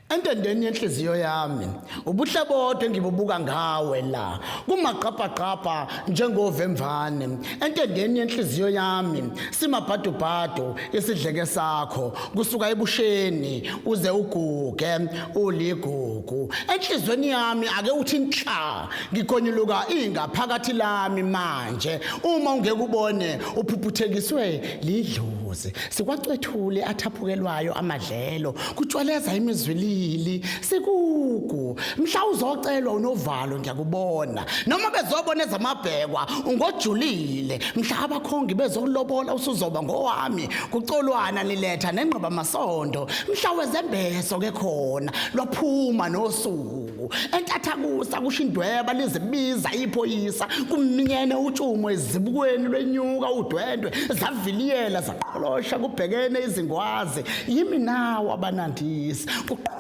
entendeni yenhliziyo yami ubuhle bodwa engibubuka ngawe la kumagqabhagqabha njengovemvane entendeni yenhliziyo yami simabhadubhadu isidleke sakho kusuka ebusheni uze uguge uligugu enhlizweni yami ake uthi nhla ngigonyuluka ingaphakathi lami manje uma ungekubone uphuphuthekiswe lidlozi sikwacwethule athaphukelwayo amadlelo kutshwaleza imizwilili sikugu mhla uzocelwa unovalo ngiyakubona noma bezobona ezamabhekwa ngojulile mhla abakhongi bezokulobola usuzoba ngowami kucolwana niletha nengqoba masondo mhla wezembeso ke khona lwaphuma nosuku entathakusa kusho indweba lizibiza iphoyisa kumnyene utshumo ezibukweni lwenyuka udwendwe zaviliyela zaqholosha kubhekene izingwazi yimi nawo abanandisi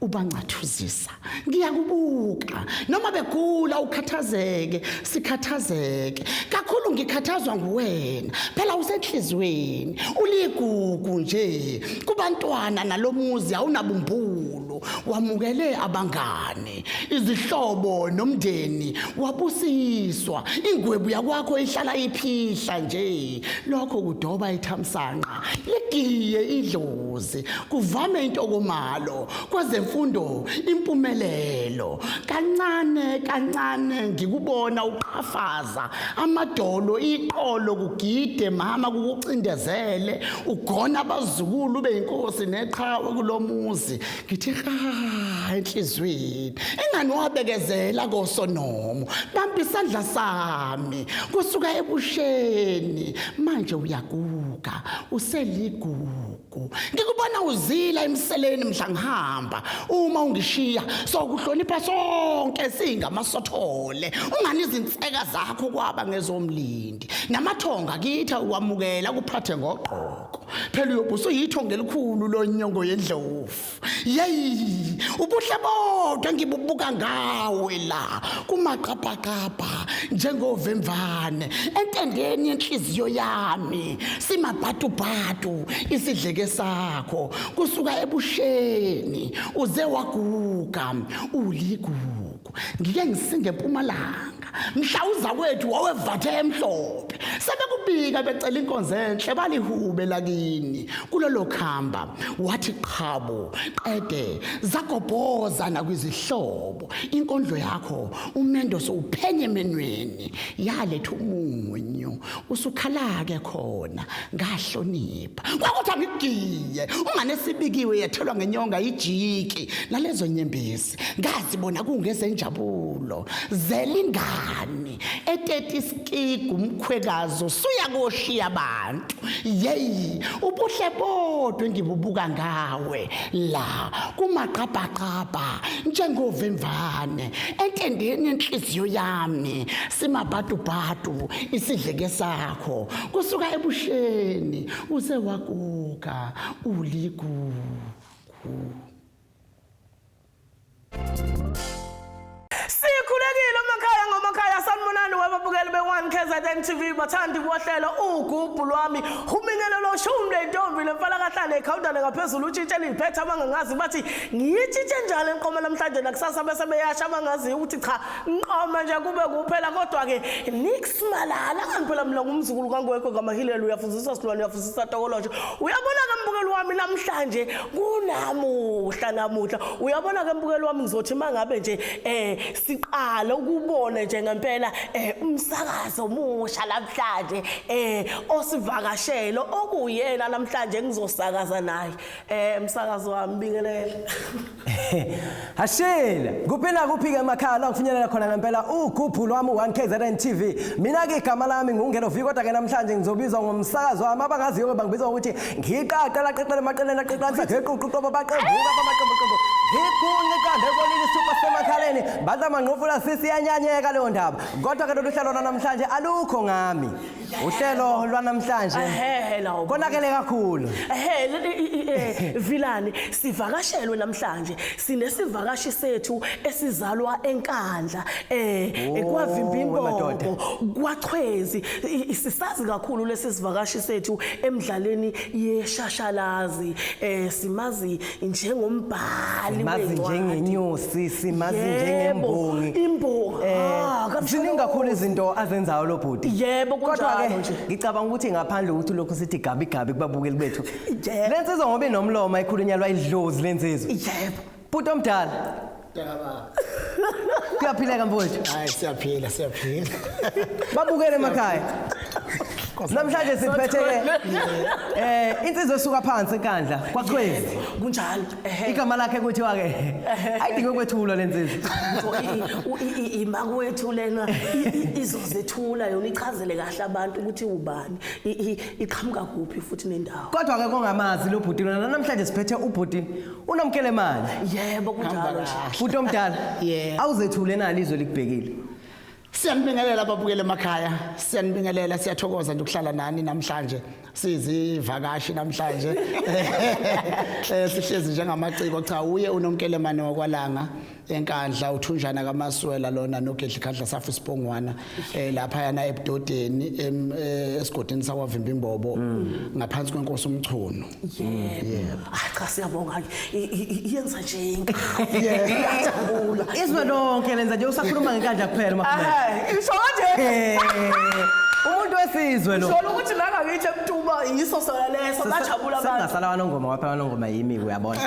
ubancathuzisa ngiyakubuka noma begula ukhathazeke sikhathazeke kakhulu ngikhathazwa nguwena phela usenhlizweni uligugu nje kubantwana nalomuzi awunabumbulo wamukele abangane izihlobo nomndeni wabusiswa ingwebu yakwakho ihlala iphihla nje lokho kudoba ithamsanqa ligiye idlozi kuvame intokomalo kwezemfundo impumelelo kancane kancane ngikubona uqhafaza amadolo iqolo kugide mama kukucindezele ugona abazukulu beyinkosi neqhawe kulomuzi ngithe hayi enhlizweni engani wabekezela kosonomo bamba isandla sami kusuka ebusheni manje uyaguga useligugu ngikubona uzila emseleni mhla ngihamba uma ungishiya sokuhlonipha sonke singamasothole ungani izinseka zakho kwaba ngezomlindi namathonga kitha ukwamukela kuphathe ngogqo phela uyobe usuyithongo elikhulu lonyongo yendlovu yeyi ubuhle bodwa ngibubuka ngawe la kumaqabhaqabha njengovemvane entendeni yenhliziyo yami simabhatubhatu isidleke sakho kusuka ebusheni uze waguga uligugu ngike ngisinge empumalanga mhla uzakwethu wawevathe emhlophe sebekubika becela inkonzo enhle balihube lakini kulolo khamba wathi qhabo qede zagobhoza nakwizihlobo inkondlo yakho umendo sowuphenye emenweni yaletha umunyu usukhalake khona ngahlonipha kwakuthi angigiye unganesibikiwe yethelwa ngenyonga ijiki nalezo nyembezi ngazi bona kungezenjabulo zelingani eteti isikigu umkhwekazi usuya koshiya abantu yeyi ubuhle bodwa engibubuka ngawe la kumaqabhaqabha njengovemvane entendeni yenhliziyo yami simabhadubhadu isidleke sakho kusuka ebusheni uze waguga uligugu Sikhulekile umakhaya ngomakhaya sanibonani wababukeli be-1 KZN TV bathandi bohlelo ugubhu lwami humingelo loshumi lentombi lemfana kahlale ekhawuntane ngaphezulu utshintshe liphethe abangangazi bathi ngiyitshintshe njalo enqoma namhlanje nakusasa bese beyasha abangaziyo ukuthi cha Nqoma nje kube kuphela kodwa ke nix malala kanti phela mina ngumzukulu kangwekho ngamahilela uyafuzisa silwane uyafuzisa tokolosho uyabona ke mbukeli wami namhlanje kunamuhla namuhla uyabona ke mbukeli wami ngizothi mangabe nje eh siqala ukubona nje ngempela eh umsakazo omusha namhlanje eh osivakashelo okuyena namhlanje ngizosakaza naye eh umsakazo wami bingelela Hashela, kuphi nakuphi ke emakhaya la ngifinyelela khona ngempela ugubhu lwami 1KZN TV. Mina ke igama lami ngungelo vi kodwa ke namhlanje ngizobizwa ngomsakazo wami abangaziyo bangibiza ngokuthi ngiqaqa la qaqele maqelena qaqanisa ngeququ qobo baqembuka bamaqembu qembu. Ngikhunye kande kolili super semakhaleni badla manqofula sisi yanyanyeka leyo ndaba. Kodwa ke lolu hlelo namhlanje alukho ngami. Uhlelo lwanamhlanje Ehhe lawo. konakele kakhulu. Ehhe le- i- i- eh, Vilani sivakashelwe namhlanje sinesivakashi sethu esizalwa eNkandla eh Oh, kwavimba wemadoda. imbongo kwachwezi I- i- sisazi kakhulu lesi sivakashi sethu emidlalweni yeshashalazi eh simazi njengombhali simazi njengenyosi simazi njengembongi imbongi eh, ah, ziningi kakhulu izinto azenzayo lo bhuti yebo kodwa-ke ngicabanga ukuthi ngaphandle ukuthi lokhu sithi gabi gabi kubabukeli bethu le nsizwa ngoba inomlomo ayikhulunyalwa idlozi le nsizwa yebo bhuti omdala Mntakababa. Kuyaphileka mfowethu. Hayi siyaphila siyaphila. Babukele emakhaya. Namhlanje siphethe ke eh insizwa esuka phansi enkandla kwaChwezi. Kunjalo. Ehhe. Igama lakhe kuthiwa ke ayidinge ukwethulwa lensizwa. So, i- u- i- i- imakwethu lena i- i- izozethula yona ichazele kahle abantu ukuthi ubani i- i- iqhamuka kuphi futhi nendawo Kodwa ke kongamazi lo bhuti lona namhlanje siphethe ubhuti Unamkele manje. Yebo kunjalo nje. Futhi omdala. Yeah. Awuzethule nalo izwe likubhekile. Siyanibingelela ababukeli emakhaya. Siyanibingelela siyathokoza nje ukuhlala nani namhlanje. Sizivakashi namhlanje. Eh sihlezi njengamaciko cha uye unomkelemane wakwalanga. enkandla uthunjana kamaswela lona nogedli khadla safi sibongwana eh lapha yana ebudodeni em- eh, esigodini sakwavimba imbobo ngaphansi kwenkosi umchunu yebo hayi cha siyabonga I- i- i- yenza nje iyajabula izwe lonke lenza nje usakhuluma ngenkandla kuphela makhulu Hayi, isho kanje Eh, umuntu wesizwe lo sholo ukuthi la ngakithi emtuba yiso sona leso bajabula abantu sengasala wanongoma waphela wanongoma yimi yabona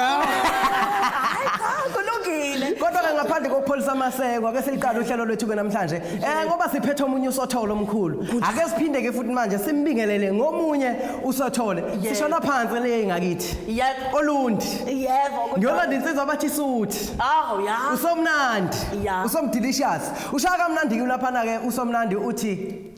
kulungile kodwa ke ngaphandle kokupholisa amaseko ake siliqale uhlelo lwethu ke namhlanje eh ngoba siphethe omunye usotholo omkhulu ake siphinde ke futhi manje simbingelele ngomunye usothole Yebo. sishona phansi le ngakithi yebo olundi yebo kodwa- ngiyolanda insizwa abathi suthi awu ya usomnandi Ya. usomdelicious ushaya kamnandi kulaphana ke usomnandi uthi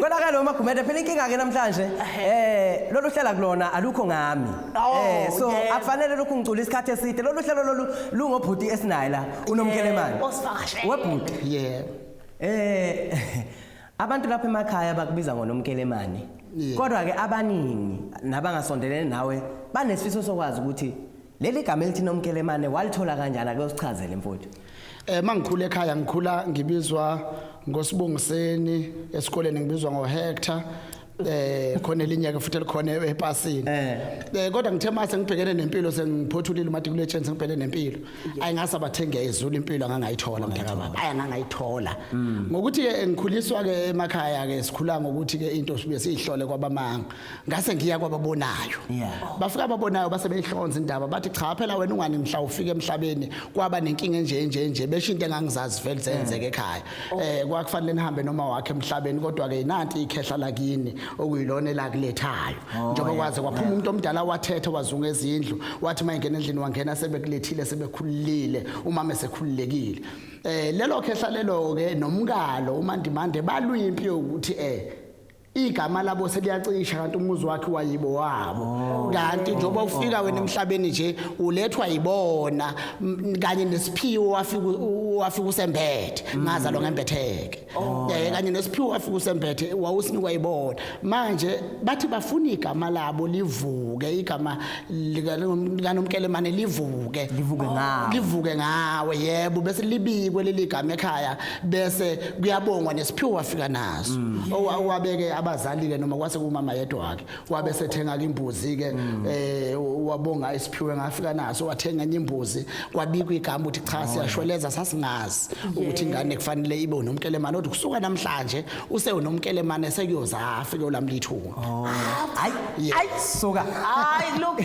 Konakala uma Gumede phela inkinga ke namhlanje eh lolu hlala kulona alukho ngami. Oh, Eh so yebo. akufanele lokhu ngicula isikhathi eside lolu hlelo lolu lungobhuti esinaye la unomkelemani. Osivakashele. Webhuti. Yebo. Eh abantu lapha emakhaya bakubiza ngonomkelemani. Yeah. Kodwa ke abaningi nabangasondelene nawe banesifiso sokwazi ukuthi leli gama elithi nomkelemane walithola kanjani ake usichazele mfowethu. Eh mangikhule ekhaya ngikhula ngibizwa ngosibongiseni esikoleni ngibizwa ngo Hector eh khona elinye ke futhi elikhona epasini eh. eh kodwa ngithe mase ngibhekene nempilo sengiphothulile umatikuletsheni sengibhekene nempilo ayingasa bathenga izulu impilo angangayithola mntaka baba ayangangayithola hmm. ngokuthi ke ngikhuliswa ke emakhaya ke sikhula ngokuthi ke into sibe siyihlole kwabamanga ngase ngiya kwababonayo yeah. bafika ababonayo base beyihlonza indaba bathi cha phela wena ungani mhla ufika emhlabeni kwaba nenkinga enje nje nje besho into engangizazi vele zenzeke ekhaya oh. eh kwakufanele nihambe noma wakhe emhlabeni kodwa ke inanti ikhehla lakini okuyilona elakulethayo oh, njengoba yeah. kwaze kwaphuma umuntu yeah. omdala wathetha wazunga ezindlu wathi mayingena endlini wangena sebekulethile sebekhululile umama esekhululekile eh lelo khehla lelo ke nomkalo umandimande balwimpi ukuthi eh igama labo seliyacisha kanti umuzi wakhe wayibo wabo oh. kanti njengoba ufika wena emhlabeni nje ulethwa yibona kanye nesiphiwo wafika wafika usembethe mm. ngaza lo ngembetheke oh. eh kanye nesiphiwo wafika usembethe wawusinikwa yibona manje bathi bafuna igama labo livuke igama likanomkelemane livuke livuke ngawe livuke ngawe yebo bese libikwe leli gama ekhaya bese kuyabongwa nesiphiwo wafika naso mm. owabeke abazali ke noma kwase kumama yedwa wakhe wabe sethenga imbuzi ke mm. eh wabonga isiphiwe ngafika naso wathenga enye imbuzi kwabikwa igama ukuthi cha oh, siyashweleza sasingazi ukuthi ingane kufanele ibe unomkelemane kodwa kusuka namhlanje use unomkelemane sekuyoza afike ulamlithuka oh. hayi hayi suka hayi look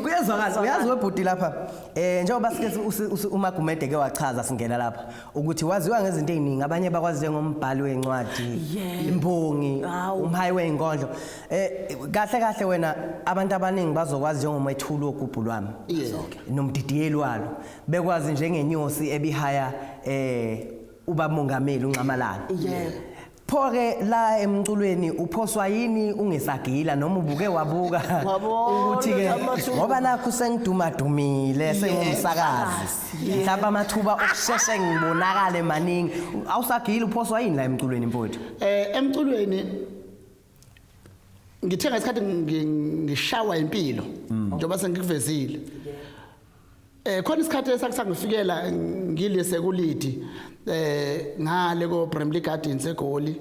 kuyezwakala uyazi webhuti lapha Eh njengoba sike uMagumede ke wachaza singena lapha ukuthi waziwa ngezinto eziningi abanye bakwazi njengombhali wencwadi imbongi umhayi weinkondlo eh kahle kahle wena abantu abaningi bazokwazi njengomethuli wogubhu lwami nomdidiyeli walo bekwazi njengenyosi ebihaya eh ubamongameli unxamalala yebo Pho-ke la emculweni uphoswa yini ungesagila noma ubuke wabuka Wabona ukuthi-ke amathuba. ngoba nakho sengidumadumile sengumsakazi mhlawumbe amathuba okusheshe ngibonakale maningi awusagili uphoswa yini la emculweni mfowethu Eh emculweni ngithe ngesikhathi ngi- ngishawa impilo njengoba sengikuvezile. Eh khona isikhathi esakusangifikela ngile sekulidi eh ngale ko Bramley Gardens eGoli.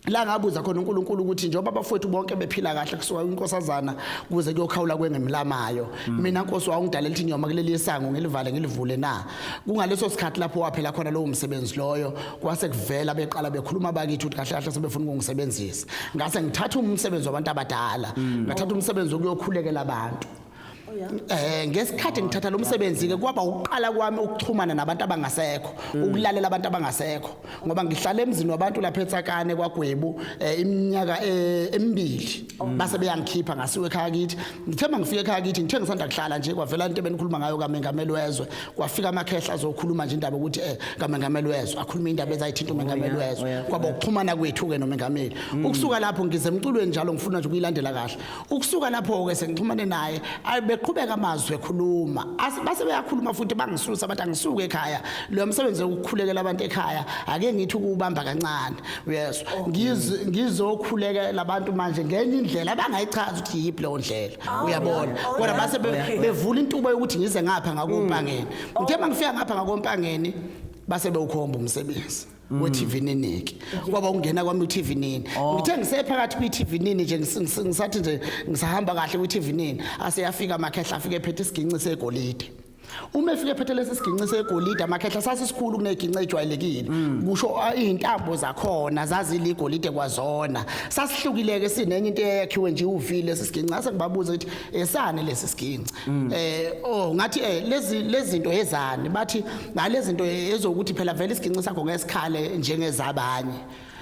La ngabuza khona uNkulunkulu ukuthi njengoba abafowethu bonke bephila kahle kusuka inkosazana kuze kuyokhawula kwengemlamayo mina Nkosi wawungidalela ukuthi nyoma kuleli sango ngilivale ngilivule na kungaleso sikhathi lapho waphela khona lowo msebenzi loyo kwase kuvela beqala bekhuluma bakithi ukuthi kahle kahle sebefuna ukungisebenzisa ngase ngithatha umsebenzi wabantu abadala ngathatha umsebenzi ukuyokhulekela abantu Eh ngesikhathi ngithatha lo msebenzi ke kwaba ukuqala kwami ukuxhumana nabantu abangasekho mm. ukulalela abantu abangasekho ngoba ngihlala emzini wabantu lapha eTsakane kwaGwebu eh, iminyaka eh, emibili oh. base beyangikhipha ngasiwe ekhaya kithi ngithemba ngifike ekhaya kithi ngithe ngisanda kuhlala nje kwavela into ebenikhuluma ngayo kaMengameli wezwe kwafika amakhehla azokhuluma nje indaba ukuthi eh kaMengameli wezwe akhuluma indaba ezayithinta uMengameli oh, wezwe oh, kwaba ukuxhumana kwethu ke noMengameli mm. ukusuka lapho ngize emculweni njalo ngifuna nje ukuyilandela kahle ukusuka lapho-ke sengixhumane naye ayi beqhubeka amazwi ekhuluma base beyakhuluma futhi bangisusa bathi angisuke ekhaya loyo msebenzi wokukhulekela abantu ekhaya ake ngithi ukuwubamba kancane yes oh. ngizokhulekela abantu manje ngenye indlela abangayichazi ukuthi yiphi leyo ndlela oh, uyabona oh, kodwa base bevula intuba yokuthi ngize ngapha ngakompangeni mm. ngithe uma ngifika ngapha ngakompangeni base bewukhomba umsebenzi Mm. we-TV niniki kwaba ungena kwami u-TV nini oh. ngithe ngisephakathi kwi-TV nini nje ngisathi nje ngisahamba kahle kwi-TV nini aseyafika amakhehla afike ephethe isiginci segolide uma efike ephethe lesi siginci segolide amakhehla sasisikhulu kuneginci ejwayelekile mm. kusho ah, izintambo zakhona zaziligolide kwazona sasihlukileke sinenye into eyakhiwe nje uvile sisiginci ngase ngibabuze ukuthi esane lesi siginci mm. eh oh ngathi eh lezi lezinto ezani bathi ngalezinto ezokuthi phela vele isiginci sakho ngesikhale njengezabanye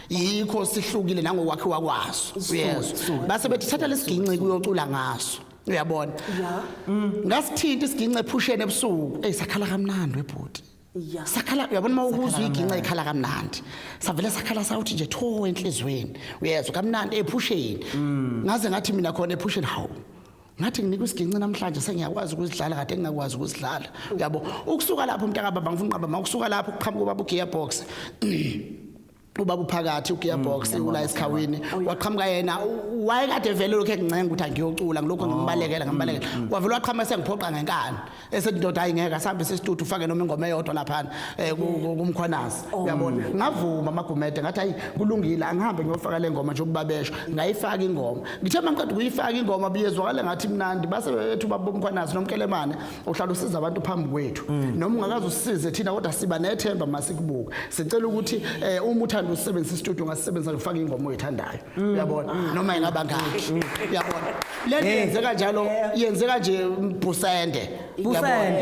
yikho sihlukile nangokwakhiwa kwaso uyezwa base bethi thatha lesiginci kuyocula ngaso uyabona ngasithinta isiginci ephusheni ebusuku eyisakhala kamnandi webhuti ya sakhala uyabona uma ukuzwa iginca ikhala kamnandi savele sakhala sawuthi nje tho enhlizweni uyezwa kamnandi ephusheni mm. ngaze ngathi mina khona ephusheni hawu ngathi nginika isiginci namhlanje sengiyakwazi ukuzidlala kade ngingakwazi ukuzidlala uyabo ukusuka lapho mntaka baba ngifuna uqaba ma ukusuka lapho kuqhamuka ubaba ugear box ubaba uphakathi ugearbox mm, ula esikhawini oh, waqhamuka yena wayekade vele lokho engincenga ukuthi angiyocula ngilokho oh, ngimbalekela mm, ngimbalekela mm. wavele waqhamuka sengiphoqa ngenkani esethi ndoda hayi ngeke asambe sesitudu ufake noma ingoma eyodwa lapha eh, kumkhwanazi oh. uyabona ngavuma amagumede ngathi hayi kulungile angihambe ngiyofaka le ngoma nje ukubabesho ngayifaka ingoma ngithe mangiqeda ukuyifaka ingoma biyezwakala ngathi mnandi base bethu babomkhwanazi nomkelemane uhlala usiza abantu phambi kwethu mm. noma ungakaze usize thina kodwa siba nethemba masikubuka sicela ukuthi eh, uma uthanda usebenzisa istudio ngasebenzisa ngifaka ingoma oyithandayo mm. uyabona mm. noma ingaba ngakhe uyabona le nto yenzeka njalo yenzeka nje mbhusende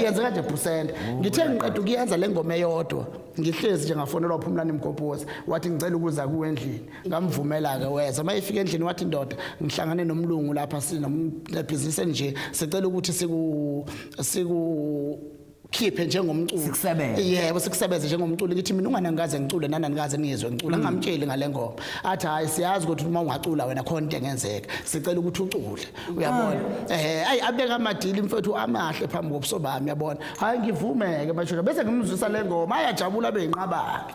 yenzeka nje bhusende oh, ngithe ngiqeda ukuyenza le ngoma eyodwa ngihlezi nje ngafonelwa uphumlani mgobhozi wathi ngicela ukuza kuwe endlini ngamvumela-ke weza uma efika endlini wathi ndoda ngihlangane nomlungu lapha sinomebhizinisi enje sicela ukuthi siku siku khiphe njengomculo Sikusebenze. yebo sikusebenze njengomculo ngithi mina ungane ngikaze ngicule nana ngikaze ngizwe ngicula ngamtsheli ngale ngoma athi hayi siyazi ukuthi uma ungacula wena khona into engenzeka sicela ukuthi ucule uyabona eh ayi abeka amadili mfethu amahle phambi kobuso bami uyabona hayi ngivumeke mashosha bese ngimzwisa le ngoma ayajabula beyinqabake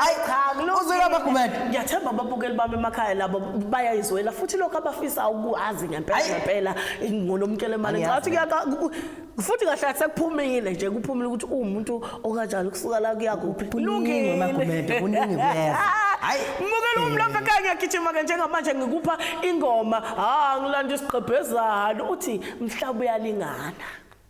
Hayi cha kulungile. Uzwile amagumede? Ngiyathemba ababukeli bami emakhaya labo bayayizwela futhi lokho abafisa ukuwazi ngempela Ayi. ngempela ngonomkele mali. Angiyazi. Ngathi kuyaka ku- futhi kahle kahle sekuphumile nje kuphumile ukuthi uwumuntu okanjani kusuka la kuya kuphi. Kuningi amagumede, kuningi kuyeza. Hayi. Mukela umlombe ekhaya ngiyagijima ke njengamanje ngikupha ingoma. Ha ngilanda isigqebhezana uthi mhlawumbe uyalingana.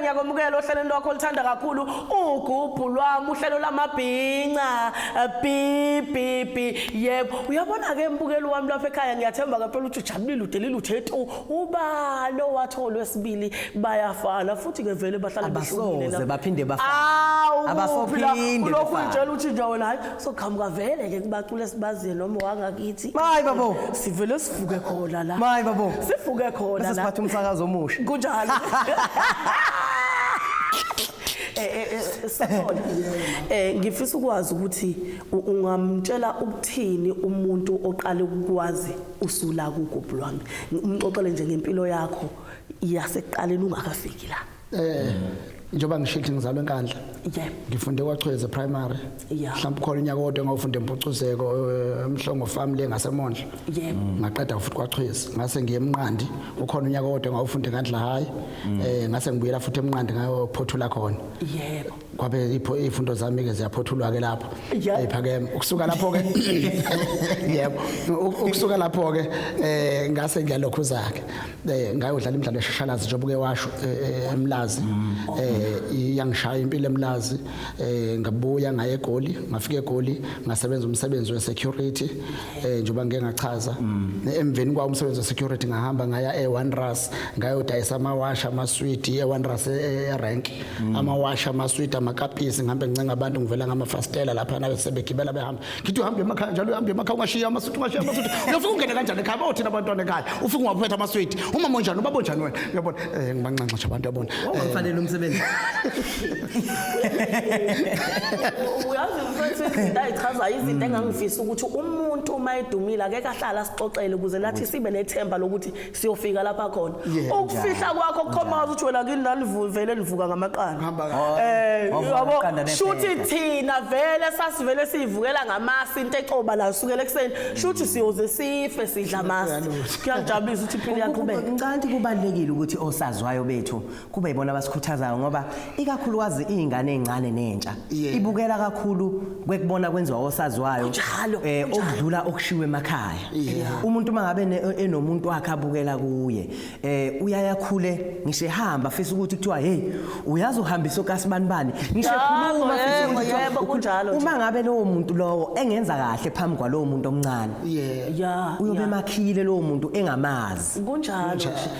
ngiyakwamukela ohlelweni lwakho oluthanda kakhulu ugubhu lwami uhlelo lamabhinca bbb yebo uyabona-ke mbukeli wami lapha ekhaya ngiyathemba-ke phela ukuthi ujabulile udelile uthe tu ubani owathi olwesibili bayafana futhi ke vele bahlala behlukile abasoze baphinde bafana abasophinde kulokhu ngitshela uthi nje wena hayi soqhamuka vele ke kubacule sibaziye noma wangakithi mayi babo sivele sivuke khona la mayi babo sivuke khona la sesiphatha umsakazo omusha kunjalo Eh, eh, eh, sakhona eh ngifisa ukwazi ukuthi ungamtshela ukuthini umuntu oqale ukwazi usula kugubhu lwami umxoxele nje ngempilo yakho yasekuqaleni ungakafiki la eh njengoba ngishithi ngizalwe enkandla yeah ngifunde kwachweze primary yeah mhlawumbe khona unyaka kodwa ngawufunda empucuzeko eh, emhlongo farm le ngasemondla yeah mm. ngaqeda futhi kwachweze ngase ngiye emnqandi ukhona unyaka kodwa ngawufunda enkandla high mm. eh ngase ngibuyela futhi emnqandi ngayophothula khona yebo kwabe ipho ifundo zami ke ziyaphothulwa ke lapho ephakeme ukusuka lapho ke yebo ukusuka lapho ke eh ngase ngiyalokhu zakhe eh ngayodlala imidlalo eshashalazi njengoba ke washo eh, eh, emlazi mm. eh iyangishaya impilo emlazi eh ngabuya ngaye egoli ngafika egoli ngasebenza umsebenzi we security eh njengoba ngeke ngachaza mm. emveni kwa umsebenzi we security ngahamba ngaya e1 ras ngayodayisa amawasha amaswidi e1 ras e-, e-, e-rank mm. amawashi amaswidi amakapisi ngihambe ngicenga abantu ngivela ngamafastela lapha nayo sebegibela behamba ngithi uhambe emakhaya njalo uhambe emakhaya ungashiya amaswidi ungashiya amaswidi uyofika ungene kanjani ekhaya bawothina abantwana ekhaya ufika ungawaphetha amaswidi umama onjani ubaba onjani wena uyabona um ngibanxanxa nje abantu yabona wawufanele eh. umsebenzi uyazi mfethu izinto ayichazayo izinto engangifisa ukuthi umuntu uma edumile akeke ahlale asixoxele ukuze nathi sibe nethemba lokuthi siyofika lapha khona Yeah, ukufihla kwakho kukhombaza ukuthi wena kini lalivele livuka ngamaqanda Hamba kahle. Oh, eh wavuka yabo ngamaqanda nephepha. shuthi thina vele sasivele siyivukela ngamasi into exoba la sukela ekuseni shuthi siyoze sife sidla amasi kuyangijabulisa ukuthi iphini Kube- yaqhubeka ngicanti kubalekile ukuthi osaziwayo bethu kube yibona abasikhuthazayo ngoba ikakhulukazi iy'ngane ey'ncane nentsha Yeah. ibukela kakhulu kwekubona kwenziwa osaziwayo Kunjalo, eh, kunjalo. okudlula okushiwo emakhaya Yeah. umuntu uma ngabe ne- enomuntu wakhe abukela kuye eh uyaye akhule ngisho ehamba afisa ukuthi kuthiwa hey uyazi uhambisa okasibani bani ngisho Yabo, ekhuluma afisa yebo, ukuthi kuthiwa- yebo, kunjalo nje. uma ngabe lowo muntu lowo engenza kahle phambi kwalowo muntu omncane yeah ya uyobe ya. emakhile lowo muntu engamazi kunjalo nje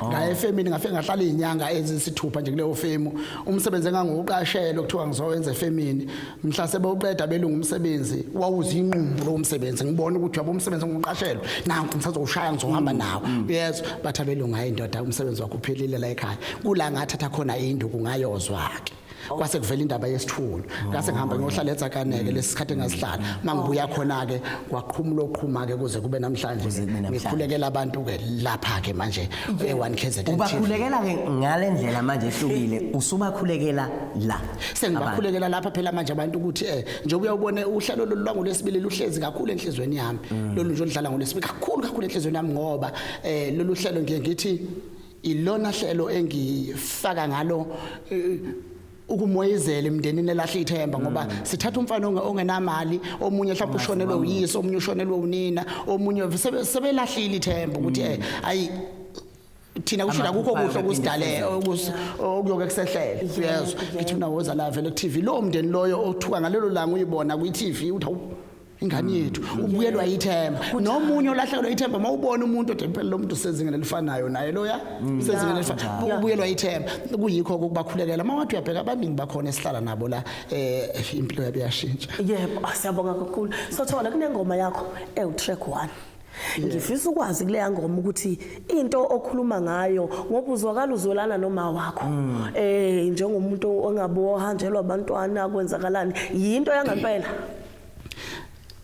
Oh. ngaye efemini ngafike ngahlala izinyanga ezisithupha nje kuleyo femu umsebenzi engangiwuqashela kuthiwa ngizowenza efemini mhla sebewuqeda belunga umsebenzi wawuzinqumbu lo msebenzi ngibona ukuthi yabo umsebenzi engiwuqashelwe nanku ngisazowushaya ngizohamba mm, nawo mm. yezwa bathi abelunga hayi ndoda umsebenzi wakho uphelile la ekhaya kula ngathatha khona induku ngayozwa ke kwase kuvela indaba yesithulu ngase oh, ngihamba ngiyohlala eTsakaneke mm. lesikhathi engasihlala mangibuya khona ke kwaqhumula oqhuma ke kuze kube namhlanje ngikhulekela abantu ke lapha ke manje e1 KZN ubakhulekela ke ngalendlela manje ehlukile usubakhulekela la sengibakhulekela lapha phela manje abantu ukuthi eh njengoba uyawubona uhlelo lolwangu lesibili luhlezi kakhulu enhlizweni yami mm. lolu nje olidlala ngolesibili kakhulu kakhulu enhlizweni yami ngoba eh lolu hlelo ngiye ngithi Ilona hlelo engifaka ngalo eh, ukumoyizela emndenini elahle ithemba ngoba mm. sithatha umfana ongenamali omunye mhlawumbe ushonelwe uyise omunye ushonelwe unina omunye sebelahlile ithemba ukuthi mm. eh, ayi thina kusho akukho kuhle okusidale okuyoke kusehlele uyezwa ngithi mina woza la vele ku TV lo mndeni loyo othuka ngalelo langa uyibona kwi TV uthi ingane yethu ubuyelwa ithemba nomunye olahlekelwa ithemba uma ubona umuntu othi impela lo muntu usezingeni elifanayo naye loya mm. usezingeni elifanayo ubuyelwa ithemba kuyikho ukubakhulekela uma wathi uyabheka abaningi bakhona esihlala nabo la eh impilo yabo yashintsha yebo ah, siyabonga kakhulu sothola kunengoma yakho ewu track 1 ngifisa ukwazi kuleya ngoma ukuthi into okhuluma ngayo ngoba uzwakala uzwelana noma wakho mm. eh njengomuntu ongabe ohanjelwa abantwana kwenzakalani yinto yangempela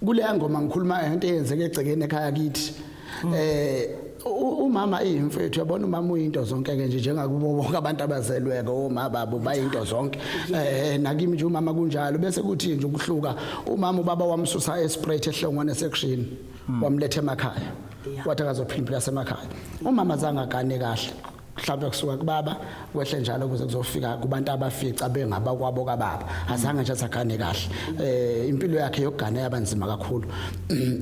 kuleya ngoma ngikhuluma ngento eyenzeke egcekeni ekhaya kithi mm. eh umama iyimfethu yabona umama uyinto zonke ke nje njengakubo bonke abantu abazelweke oma babo bayinto zonke eh nakimi nje umama kunjalo bese kuthi nje ukuhluka umama ubaba wamsusa esprit ehlongwane section mm. wamlethe emakhaya wathi akazophinda lasemakhaya umama zange agane kahle mhlawumbe kusuka kubaba kwehle njalo kuze kuzofika kubantu abafica bengaba kwabo kababa azange nje sagane kahle eh impilo yakhe yokugana yabanzima kakhulu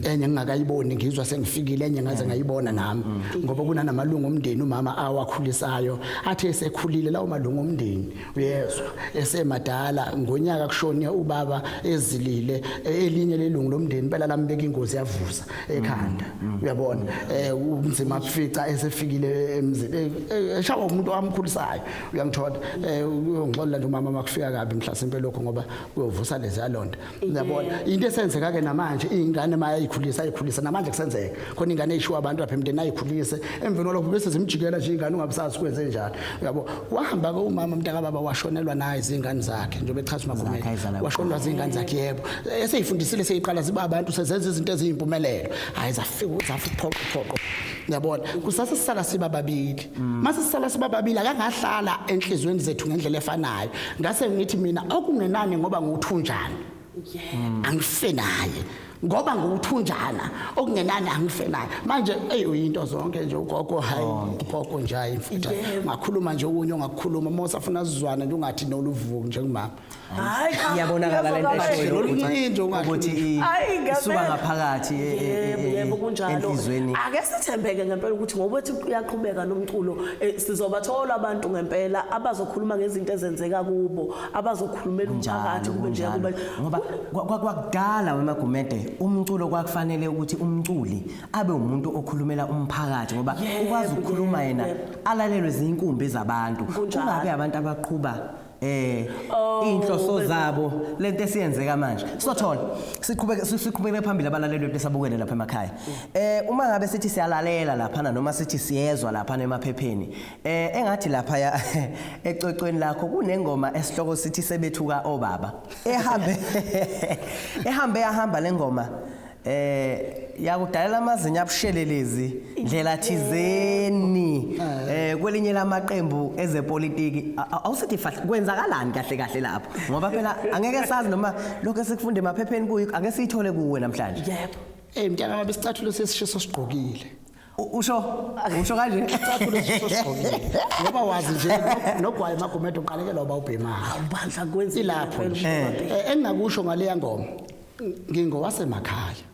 enye ngingakayiboni ngizwa sengifikile enye ngaze ngayibona nami ngoba kunanamalungu omndeni umama awakhulisayo athe esekhulile lawo malungu omndeni uyezwa esemadala ngonyaka kushone ubaba ezilile e, elinye lelungu lomndeni impela lambeka ingozi yavuza ekhanda mm, mm. uyabona eh, umzima kufica esefikile emzini eh, eh, eshawa umuntu owamkhulisayo uyangithola uyongixolela nje umama makufika kabi mhlasimpe lokho ngoba kuyovusa lezi yalonda Uyabona into esenzeka ke namanje ingane maya ikhulisa ikhulisa namanje kusenzeka khona ingane ishiwa abantu lapha emndeni ayikhulise emveni kwalokho bese zimjikela nje ingane ungabusazi kwenze njalo uyabo wahamba ke umama mntaka baba washonelwa naye izingane zakhe njengoba echaza umakhumeni washonelwa izingane zakhe yebo eseyifundisile seyiqala ziba abantu sezenza izinto eziyimpumelelo hayi zafika zafuphoqo phoqo yabona kusase sisala siba babili mase sisala siba babili akangahlala enhlizweni zethu ngendlela efanayo ngase ngithi mina okungenani ngoba nguthunjana angife naye ngoba nguthunjana okungenani angife naye manje ey uyinto zonke nje ugogo hayi ugogo nje hayi mfutha ngakhuluma nje okunye ongakukhuluma uma usafuna sizwane nje ungathi noluvuki njengomama Hayi cha. Iyabonakala le nto Ngiyazwa eshoyo kahle. ukuthi- Lolunye into ungathi- ukuthi i- Ayi, ngempela. isuka ngaphakathi e- e- e- Yebo, e- yebo kunjalo. enhlizweni. Ake sithembeke ngempela ukuthi ngoba ethi kuyaqhubeka nomculo eh, sizobathola abantu ngempela abazokhuluma ngezinto ezenzeka kubo, abazokhulumela umphakathi kube nje kube ngoba kwa- kwa- kwakudala wemagumede umculo kwakufanele ukuthi umculi abe umuntu okhulumela umphakathi ngoba Yebo, ukwazi ukukhuluma yebo, yena yebo. alalelwe zinkumbi zabantu Kunjalo. kungabe abantu abaqhuba eh Oh, inhloso baby. zabo lento esiyenzeka manje sothola siqhubeke si- siqhubekele phambili abalaleli bethu esabukele lapha emakhaya eh uma ngabe sithi siyalalela lapha na noma sithi siyezwa lapha na emaphepheni eh engathi lapha ya ecwecweni lakho kunengoma esihloko sithi sebethuka obaba ehambe ehambe yahamba lengoma eh yakudalela amazinyo abushelelezi ndlela thizeni eh kwelinye lamaqembu ezepolitiki awusithi kwenzakalani kahle kahle lapho ngoba phela angeke sazi noma lokho esikufunde emaphepheni kuyi angeke siyithole kuwe namhlanje yebo eh mntana mabesicathulo sesishiso sigqokile U- usho usho kanje Cathula siso sigqokile. Ngoba wazi nje no- nogwayi magumedo uqalekela uba ubhemayo. Bandla kwenza Ilapho nje. Eh, engingakusho ngaleya ngoma ngingowasemakhaya.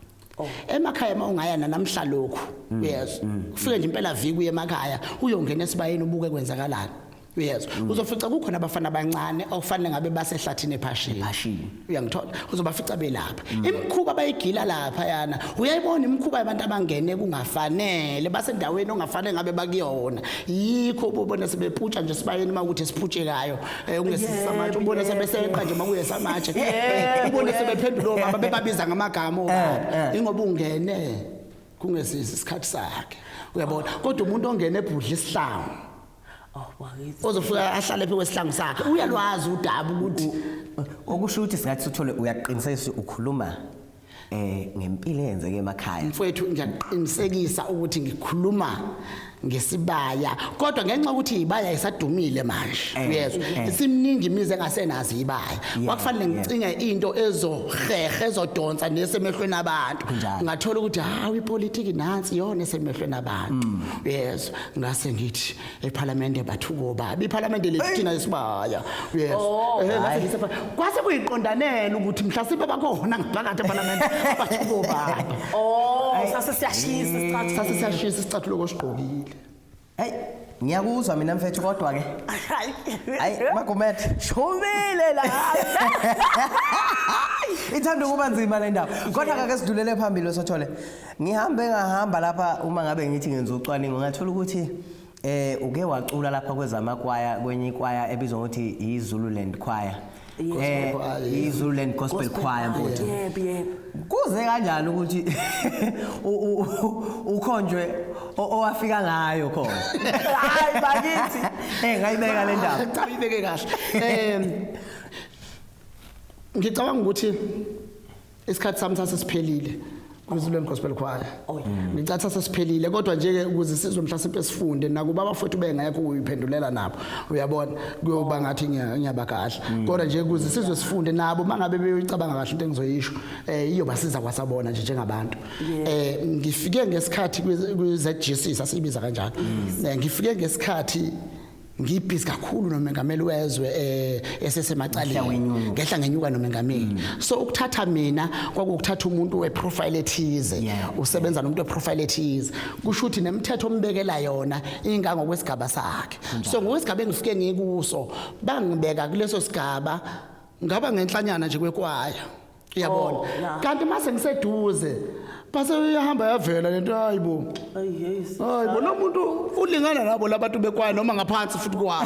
Emakhaya uma ungaya nanamhla lokhu. Yes. Ufike nje impela viki uye emakhaya uyongena esibayeni ubuke kwenzakalani. uyezwa mm. uzofica kukhona abafana abancane okufanele ngabe basehlathini ephashini ephashini uyangithola uzobafica belapha mm. imikhuba bayigila lapha yana uyayibona imikhuba yabantu abangene kungafanele basendaweni ongafanele ngabe bakuyona yikho ubona sebeputsha nje sibayeni uma ukuthi siphutshekayo eh, ungesisamatshe ubona sebeseqa nje makuye samatshe ubona sebephendula omama bebabiza ngamagama obaba eh, eh. ingoba ungene kungesisi isikhathi sakhe uyabona kodwa umuntu ongena ebhudla isihlangu awubakithi ozofika ahlale phe kwesihlangu sakhe uyalwazi udaba ukuthi okusho ukuthi singathi uthole uyaqiniseka ukhuluma eh ngempilo eyenzeke emakhaya mfowethu ngiyaqinisekisa ukuthi ngikhuluma ngesibaya kodwa ngenxa ukuthi ibaya isadumile manje eh, uyezwa eh. isimningi imizi engasenazi ibaya kwakufanele ngicinge into ezohehe ezodonsa nesemehlweni abantu ngathola ukuthi hawu ipolitiki nansi yona esemehlweni abantu mm. uyezwa ngase ngithi ephalamende bathuko babi iphalamende lethu thina esibaya yes Oh, Eh, ngase ngithi epha- kwase kuyiqondanela ukuthi mhlasimbe bakhona ngaphakathi ephalamende bathuko baba Oh, sase siyashisa isikhathi. sase siyashisa isicathulo kosigqokile Hey, ngiyakuzwa mina mfethu kodwa ke. Hayi. Hayi, Magumet. Shubile la. Ithanda ukuba nzima le ndaba. Kodwa ke sidlulele phambili sothole. Ngihambe ngahamba lapha uma ngabe ngithi ngenza ucwaningo ngathola ukuthi eh uke wacula lapha kwezamakwaya kwenye ikwaya ebizwa ngokuthi iZululand Choir. Eh iZululand Gospel Choir mfowethu. Yebo yebo. Kuze kanjani ukuthi ukhonjwe owafika ngayo khona. Hayi bakithi. Eh ngayibeka le ndaba. Cha ibeke kahle. Eh ngicabanga ukuthi isikhathi sami sasesiphelile kwiZulweni Gospel Choir oh, ngicatha sesiphelile kodwa nje ke ukuze sizwe mhlasimpe sifunde nakuba abafowethu bengekho uyiphendulela nabo uyabona kuyoba oh. ngathi ngiyabakahla mm. kodwa nje ukuze sizwe sifunde nabo mangabe beyicabanga kahle into engizoyisho eh iyobasiza kwasabona nje njengabantu eh ngifike ngesikhathi kwiZGC sasibiza kanjalo mm. eh, ngifike ngesikhathi ngibhizi kakhulu nomengameli wezwe eh, esesemacaleni ngehla ngenyuka nomengameli mm. so ukuthatha mina kwakukuthatha umuntu weprofile ethize usebenza nomuntu weprofile ethize kusho ukuthi nemithetho ombekela yona ingangokwesigaba sakhe so ngokwesigaba engifike ngikuso bangibeka kuleso sigaba ngaba ngenhlanyana nje kwekwaya uyabona Oh, yeah. kanti mase ngiseduze base uyahamba yavela lento hayibo Ay, yes. hayibo lo muntu ulingana nabo labantu bekwayo noma ngaphansi futhi kwawo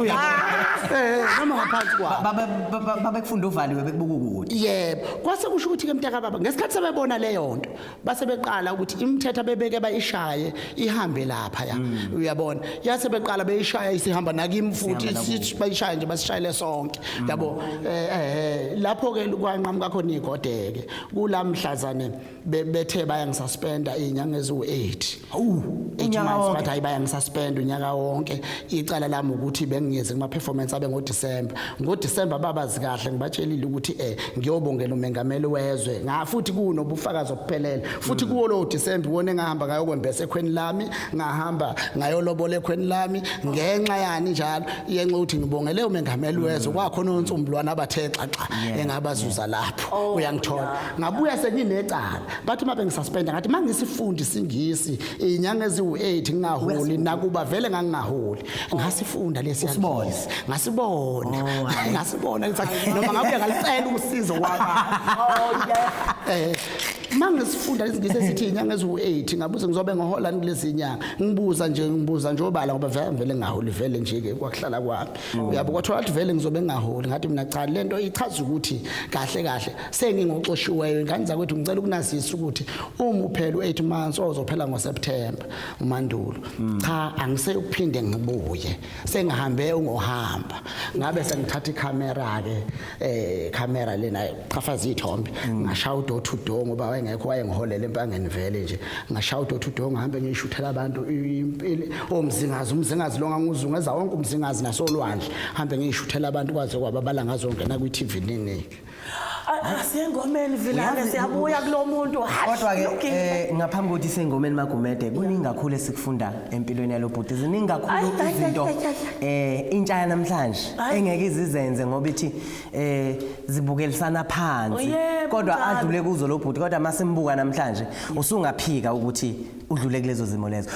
uyabona eh noma ngaphansi kwawo Baba- baba- babekufunda uvaliwe bekubuka ukuthi yebo kwase kusho ukuthi-ke mntakababa ngesikhathi sebebona leyo nto base beqala ukuthi imithetho abebeke bayishaye ihambe lapha ya mm. uyabona yase beqala beyishaya isihamba nakimi futhi bayishaye nje basishayele sonke mm. yabo eh, eh, eh lapho ke kwanqamuka khona igodeke kulamhlazane bethe bayangisaspenda inyanga eziwu8 Hawu, unyaka wonke bathi baya ngisuspend unyaka wonke. Icala lami ukuthi bengiyeze kuma performance abe ngo December. Ngo December babazi kahle ngibatshelile ukuthi eh ngiyobongela umengameli wezwe. Nga futhi kuno bufakazi obuphelele. Futhi kuwo lo December wona engahamba ngayo kwembese ekhweni lami, ngahamba ngayo lobola ekhweni lami ngenxa yani njalo yenxa ukuthi ngibongele umengameli wezwe mm. kwakhona onsumbulwana abathe xaxa engabazuza lapho. Oh, Uyangithola. Ngabuya senginecala. bathi uma bengisuspenda ngathi uma ngisifundi isingisi iy'nyanga eziwu-eight ngingaholi nakuba vele ngangingaholi ngasifunda lesi Usibone. yangisi. ngasibona Oh, hhayi. ngasibona ngithi, noma ngabuye ngalicela usizo Eh, uma ngisifunda isingisi esithi iy'nyanga eziwu-eight ngabuze ngizobe ngihola ni kulezi nyanga ngibuza nje ngibuza nje obala ngoba vele ngivele ngingaholi vele nje-ke kwakuhlala kwami uyabo kwathola ukuthi vele ngizobe ngingaholi ngathi mina cha le nto ichaza ukuthi kahle kahle sengingoxoshiweyo ingane zakwethu ngicela ukunazisa ukuthi uma uphela u-8 months ozophela ngoseptemba umandulo mm. cha angiseyukuphinde ngibuye sengihambe ungohamba ngabe sengithatha ikhamera-ke um khamera lena qhafaza iy'thombe mm. ngashaya udo to do ngoba wayengekho wayengiholela empangeni vele nje ngashaya udo to do ngihambe ngiyishuthela abantu omzingazi oh, umzingazi lo nganguzungeza wonke umzingazi nasolwandle hambe ngiyishuthela abantu kwaze kwababala ngazongena kwi-tv ninike Asengomeni vilane siyabuya kulomuntu. Kodwa ke eh, ngaphambi kokuthi sengomeni magumede kuningi kakhulu esikufunda empilweni yalobhuti. Ziningi kakhulu izinto eh intsha yanamhlanje engeke izizenze ngoba ithi eh zibukelisana phansi. Oh, kodwa adlule kuzo lobhuti kodwa masimbuka namhlanje usungaphika ukuthi udlule kulezo zimo lezo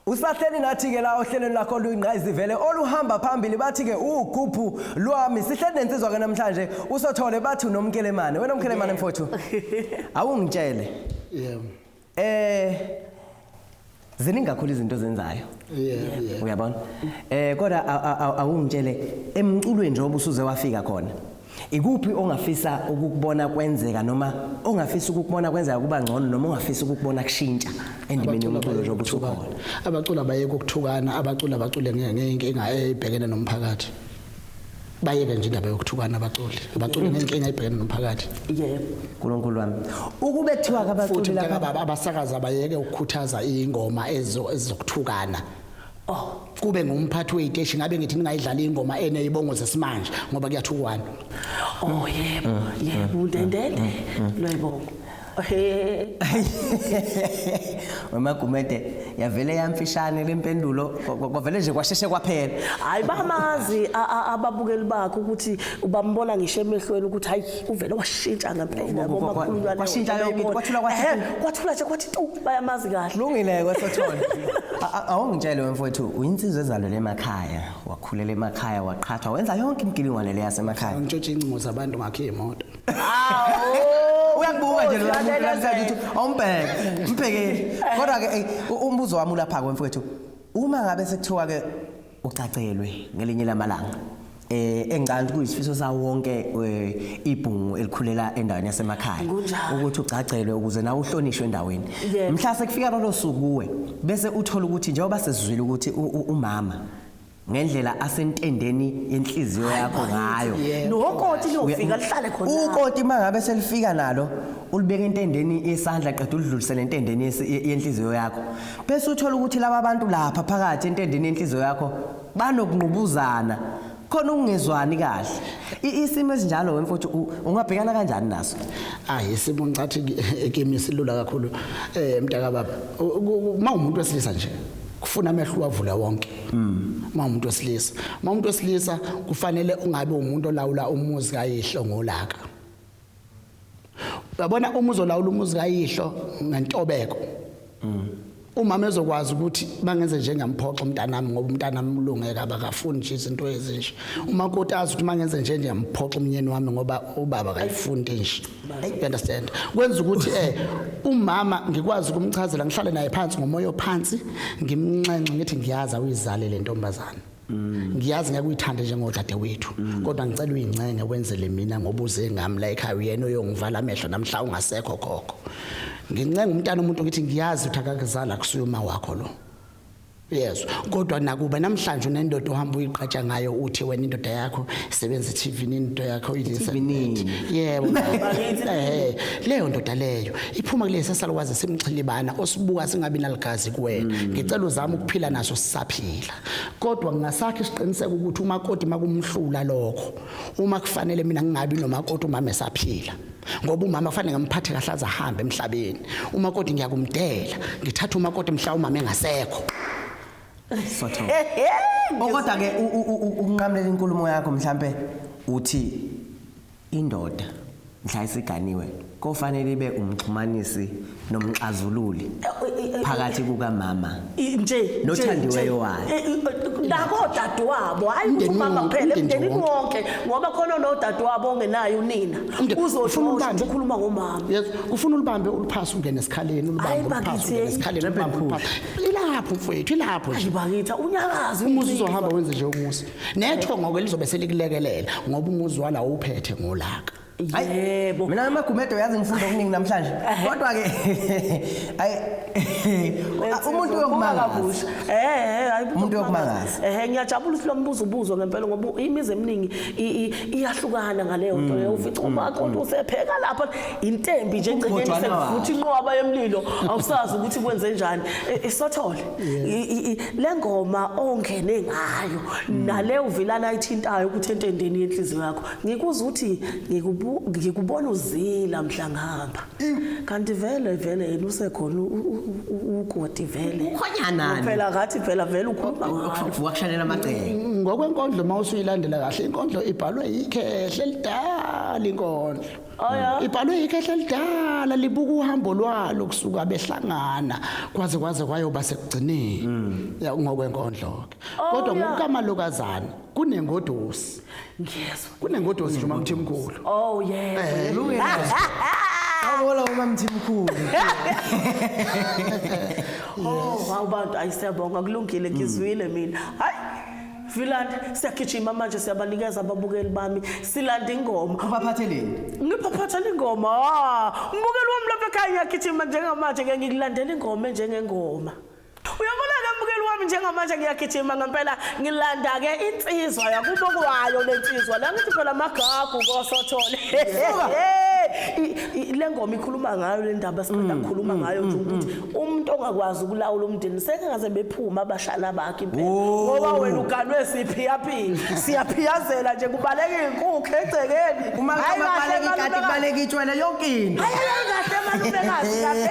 usahleli nathi-ke la ohlelweni lakho luyingqayizivele oluhamba phambili bathi-ke ugubhu lwami sihleli nensizwa-ke namhlanje usothole bathi unomkelemane wena mkelemane mfowethu awungitshele yeah. Eh ziningi kakhulu izinto ozenzayo yeah, yeah. uyabona eh kodwa awungitshele emculweni njengoba usuze wafika khona ikuphi ongafisa ukukubona kwenzeka noma ongafisa ukukubona kwenzeka kuba ngcono noma ongafisa ukukubona kushintsha endimeni yomculo njengoba usukhona abaculi abayeke ukuthukana abaculi abacule ngeyinkinga eyibhekene nomphakathi bayeke nje indaba yokuthukana abaculi abaculi nenkinga ibhekene nomphakathi yebo uNkulunkulu wami ukube kuthiwa kabaculi laba abasakaza bayeke ukukhuthaza ingoma ezo ezokuthukana oh kube ngumphathi weyiteshi ngabe ngithi ningayidlala ingoma eneyibongo zesimanje ngoba kuyathukwana oh yebo mm, mm, yebo mm, ndendende loyibongo wemagumede yavele yamfishane le mpendulo kwavele nje kwasheshe kwaphela hayi bamazi ababukeli bakho ukuthi ubambona ngisho emehlweni ukuthi hayi uvele washintsha ngempela kwashintsha yonke kwathula kwathula nje kwathi tu bayamazi kahle lungile kwesothona awungitshele wemfowethu uyinsizwa ezalwe emakhaya wakhulela emakhaya waqhathwa wenza yonke imigilingwane le yasemakhaya ngitshotshe incingo zabantu ngakhe imoto uyakubuka nje lo muntu namhlanje ukuthi awumbheke mbhekeli kodwa-ke eyi, u- umbuzo wami ulapha-ke mfowethu uma ngabe sekuthiwa-ke ucacelwe ngelinye lamalanga eh engicabanga ukuthi kuyisifiso sawo wonke eh, ibhungu elikhulela endaweni yasemakhaya Kunjalo. ukuthi ugcagcelwe ukuze nawe uhlonishwe endaweni Yebo. mhla sekufika lolo suku kuwe bese uthola ukuthi njengoba sesizwile ukuthi u- u- umama ngendlela asentendeni yenhliziyo yakho ngayo nokoti liyofika lihlale khona ukoti mangabe selifika nalo ulibeka entendeni yesandla qeda ulidlulisele entendeni yenhliziyo yakho bese uthola ukuthi laba bantu lapha phakathi entendeni yenhliziyo yakho banokungqubuzana khona ukungezwani kahle isimo esinjalo wemfowethu ungabhekana kanjani naso hayi isimo ngicathi kimi silula kakhulu eh mntaka baba uma umuntu wesilisa nje kufuna amehlo wavula wonke uma umuntu wesilisa uma umuntu wesilisa kufanele ungabe umuntu olawula umuzi kayihlo ngolaka uyabona uma uzolawula umuzi kayihlo ngentobeko umama ezokwazi ukuthi bangenze njengamphoxa umntanami ngoba umntanami ulungeka abakafuni nje izinto ezinje umakoti azi ukuthi mangenze nje ngiyamphoxa umnyeni wami ngoba ubaba akayifuni nje Hey, you understand kwenza ukuthi eh umama ngikwazi ukumchazela ngihlale naye phansi ngomoya ophansi ngimnxenxe ngithi ngiyaza uyizale le ntombazana ngiyazi ngeke uyithande njengodade wethu kodwa ngicela uyincenge wenzele mina ngoba uze ngami la ekhaya uyena oyongivala amehlo namhla ungasekho khokho ngincenga umntana umuntu ngithi ngiyazi uthi akakuzala kusuyuma wakho lo Yes, kodwa nakuba namhlanje unendoda ohamba uyiqhatsha ngayo uthi wena indoda yakho sebenza TV into yakho uyilisa. Yebo. Eh, leyo ndoda leyo iphuma kulesi salwazi simxhilibana osibuka singabi naligazi kuwena. Mm. Ngicela uzama ukuphila naso sisaphila. Kodwa ngingasakhe isiqiniseko ukuthi umakoti makumhlula lokho. Uma kufanele mina ngingabi nomakoti uma mesaphila. ngoba umama kufanele ngamphathe kahle aze ahambe emhlabeni umakoti ngiyakumdela ngithatha umakoti mhla umama engasekho okoda ke ukunqamlela inkulumo yakho mhlambe uthi indoda mhla isiganiwe kofanele ibe umxhumanisi nomxazululi phakathi kukamama nje nothandiweyo wakhe nako dadewabo hayi ukuthi umama kuphela emndenini wonke ngoba khona nodadewabo ongenayo unina uzoshosha ukhuluma ngomama yes ufuna ulibambe uliphasa ungene esikhaleni ulibambe uliphasa ungene esikhaleni ulibambe uliphasa ilapho mfowethu ilapho nje bakitha unyakazi umuzi uzohamba wenze nje umuzi nethongo ke lizobe selikulekelela ngoba umuzi wala uphethe ngolaka Yebo. Mina amagumedo yazi ngifunda okuningi namhlanje. Kodwa ke ay umuntu uyokumangaza. kabusha. Eh, hayi Umuntu uyokumangaza. Eh, ngiyajabula ukuthi lo mbuzo ubuzwa ngempela ngoba imizi eminingi i- i- iyahlukana ngaleyo nto leyo. Ufica uma kodwa usepheka lapha intembi nje egcekeni Umgojwana sekuvuthi inqwaba yemlilo awusazi ukuthi kwenze njani. Eh, Isothole. I- i- i- Le ngoma ongene ngayo nale uvilana ayithintayo ukuthi entendeni yenhliziyo yakho ngikuza ukuthi ngikubona uzila mhla ngihamba kanti vele vele yena usekhona ukoti vele ukhonyana phela ngathi phela vele ukhuluma ngakuvuka kushanela amagceke ngokwenkondlo uma usuyilandela kahle inkondlo ibhalwe yikhehle lidala inkondlo Oh, ibhalwe yikhehle elidala libuka uhambo lwalo kusuka behlangana kwaze kwaze kwayoba sekugcineni hmm. ngokwenkondlo ke oh, kodwa ngokukamalokazana kunengodosi ngiyezwa kunengodosi nje umamthimkhulu oh yeah Awula umamthimkhulu oh wawubantu ayisebonga kulungile ngizwile mina hayi Vilandi siyagijima manje siyabanikeza ababukeli bami silanda ingoma ubaphatheleni ngiphathathela ingoma ah, umbukeli wami lapha ekhaya ngiyagijima njengamanje ke ngikulandela ingoma njengengoma Uyabona-ke mbukeli wami njengamanje ngiyagijima ngempela ngilanda-ke insizwa yakubo kwayo le nsizwa la ngithi phela amagagu kosothole le ngoma ikhuluma ngayo le ndaba sibanda mm, kukhuluma mm, ngayo nje mm, ukuthi umuntu ongakwazi ukulawula umndeni sekengaze bephuma abashana bakhe impela oh. ngoba wena uganwe siphiyaphiya siyaphiyazela nje kubaleka inkukhu egcekeni uma kubaleka ikati kubaleka itshwele yonke into ayayikahle malumekazi kahle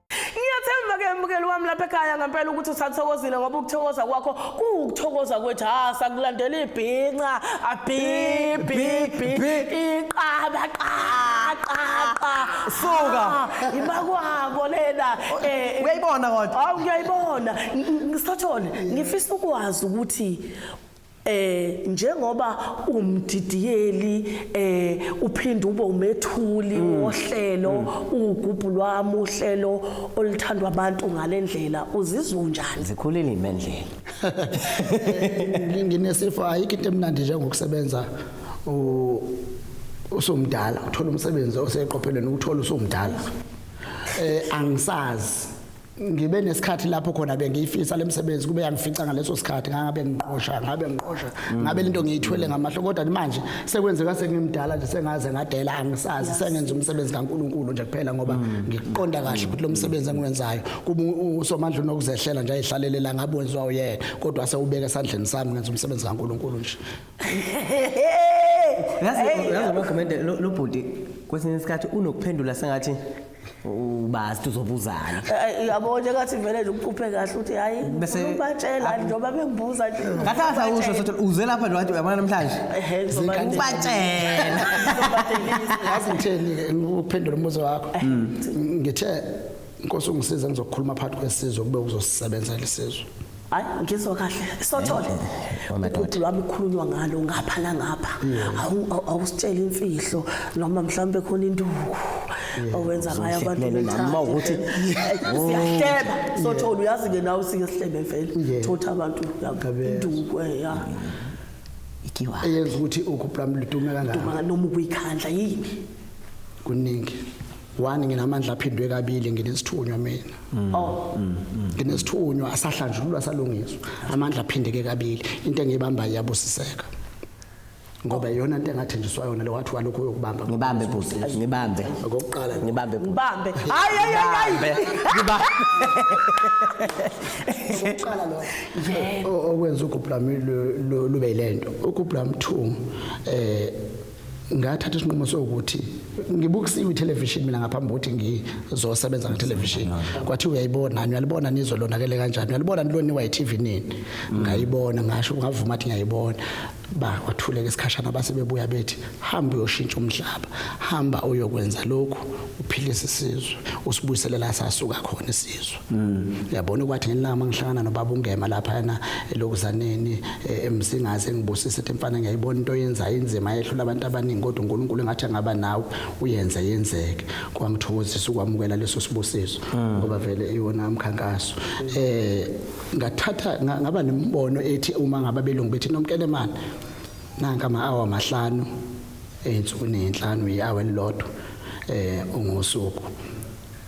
Ngiyathemba ke mbukeli wami lapha ekhaya ngempela ukuthi usathokozile ngoba ukuthokoza kwakho kuwukuthokoza kwethu ha sakulandela ibhinca abhibhibhi iqaba qaqaqa suka imakwabo lena eh uyayibona kodwa awu ngiyayibona ngisathole ngifisa ukwazi ukuthi eh njengoba umdidiyeli eh uphinde ube umethuli mm. wohlelo mm. ugubhu lwami uhlelo olithandwa abantu ngalendlela uzizwa unjani zikhulile imendlela nginesifo ayikho into emnandi njengokusebenza usumdala uthola umsebenzi oseqophelweni ukuthola usumdala eh angisazi ngibe nesikhathi lapho khona bengiyifisa lemsebenzi kube yangifica ngaleso sikhathi ngabe ngiqosha ngabe ngiqosha mm. ngabe lento ngiyithwele mm. ngamahlo kodwa manje sekwenzeka sengimdala nje sengaze ngadela angisazi sengenza umsebenzi kaNkuluNkulu nje kuphela ngoba mm. ngiqonda kahle ukuthi lo msebenzi engiwenzayo kuba usomandla unokuzehlela nje ayihlalelela ngabe wenziwa uyena kodwa sewubeka esandleni sami ngenza umsebenzi kaNkuluNkulu nje yazi yazi makomende lo bhuti kwesinye isikhathi unokuphendula sengathi ubazi uzobuzana Eh, yabo nje ngathi vele nje uphuphe kahle uthi hayi Bese- ngifuna ukubatshela njengoba bengibuza nje ngathi angisawusho sothi uze lapha nje wathi uyabona namhlanje Ehhe, ngizoba- ubatshela Ngizobadelisa. yazi ngitheni-ke ukuphendula umbuzo wakho ngithe nkosi ungisize ngizokhuluma phakathi kwesizwe kube uzosisebenza lesizwe hayi ngizwa kahle sothole ubhuti lwami khulunywa ngalo ngapha nangapha awusitshela imfihlo noma mhlawumbe khona induku owenza ngayo abantu noma ukuthi siyahleba sothole uyazi ke nawe sike sihlebe vele thotha abantu induku eh, ya ikiwa eyenza ukuthi ukuplamluduma kangaka noma ukuyikhandla yini kuningi one nginamandla aphindwe kabili nginesithunywa mina mm. oh mm, mm. nginesithunywa asahlanjululwa salungiswa amandla aphindeke kabili into engiyibamba iyabusiseka ngoba iyona into engathenjiswa yona lewathi walokho uyokubamba ngibambe bhuti ngibambe ngokuqala ngibambe ngibambe hayi hayi hayi ngibambe ngokuqala lo yebo okwenza ugublam lube lento ugublam 2 eh ngathatha isinqumo sokuthi ngibukisiwe ithelevishini mina ngaphambi kokuthi ngizosebenza ngethelevishini kwathi uyayibona niyalibona nizwe lonakele kanjani uyalibona niloniwa yi-tv nini mm. ngayibona ngasho ngavuma athi ngiyayibona bakwathuleka isikhashana base bebuya bethi hamba uyoshintsha umhlaba hamba uyokwenza lokhu uphilise isizwe usibuyiselela sasuka khona isizwe Mm. Yabona kwathi ngelanga mangihlangana nobaba ungema lapha yana elokuzaneni eh, emsingazi engibusise ethi mfana ngiyayibona into yenzayo inzima yehlula abantu abaningi kodwa uNkulunkulu engathi angaba nawe uyenze yenzeke kwangithokozisa ukwamukela leso sibusiso mm. ngoba vele iwona umkhankaso eh ngathatha ngaba nemibono ethi uma ngaba belungu bethi nomkelemana nanka ama hour amahlanu ensuku nenhlanu ihour elilodwa eh ungosuku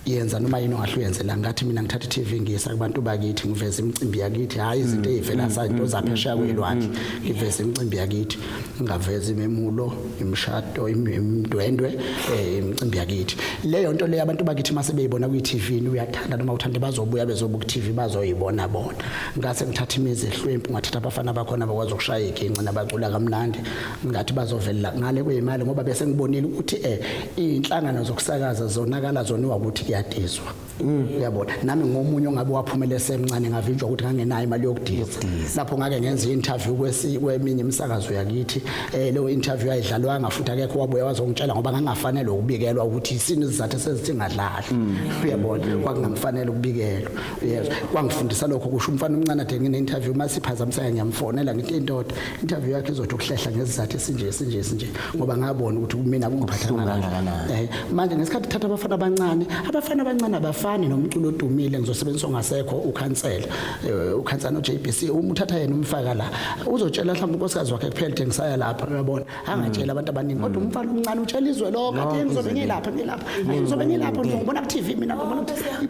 yenza noma yini ongahle uyenze la ngathi mina ngithatha iTV ngiyisa kubantu bakithi ngiveza imicimbi yakithi hayi izinto mm, ezivela mm, zazinto mm, zaphesheya kwelwandle ngiveza imicimbi yakithi ngingaveza imemulo imishado imdwendwe eh, imicimbi yakithi leyo nto leyo abantu bakithi mase beyibona kwiTV uyathanda noma uthanda bazobuya bezobuka iTV bazoyibona bona ngase ngithatha imizi ehlwempu ngathatha abafana bakhona bakwazi ukushaya iginci nabacula kamnandi ngathi bazovelela ngale kweyimali ngoba bese ngibonile ukuthi eh inhlangano zokusakaza zonakala zoniwa ukuthi kuyadizwa mm. uyabona nami ngomunye ongabe waphumela esemncane ngavinjwa ukuthi ngangenayo imali yokudiza lapho ngake ngenza i-interview kweminye imisakazo yakithi eh leyo interview ayidlalwanga futhi akekho wabuya wazongitshela ngoba ngangafanele ukubikelwa ukuthi isini sizathu sezithi ngadlali mm. uyabona kwakungamfanele ukubikelwa uyezwa kwangifundisa lokho kusho umfana omncane athe ngine-interview masiphazamiseka ngiyamfonela ngithi indoda interview yakhe izothi ukuhlehla ngesizathu esinje esinje esinje ngoba ngabona ukuthi kumina kungiphathanga kangakanani eh manje ngesikhathi thatha abafana abancane abafana abancane abafani nomculo odumile ngizosebenzisa ongasekho ukhansela eh, ukhansela uJBC uma uthatha yena umfaka la uzotshela mhlawumbe unkosikazi wakhe kuphela ukuthi ngisaya lapha uyabona angatshela abantu abaningi kodwa mm. umfana omncane utshela izwe lonke athi ngizobe ngilapha ngilapha ngizobe ngilapha ngizobona ku TV mina ngibona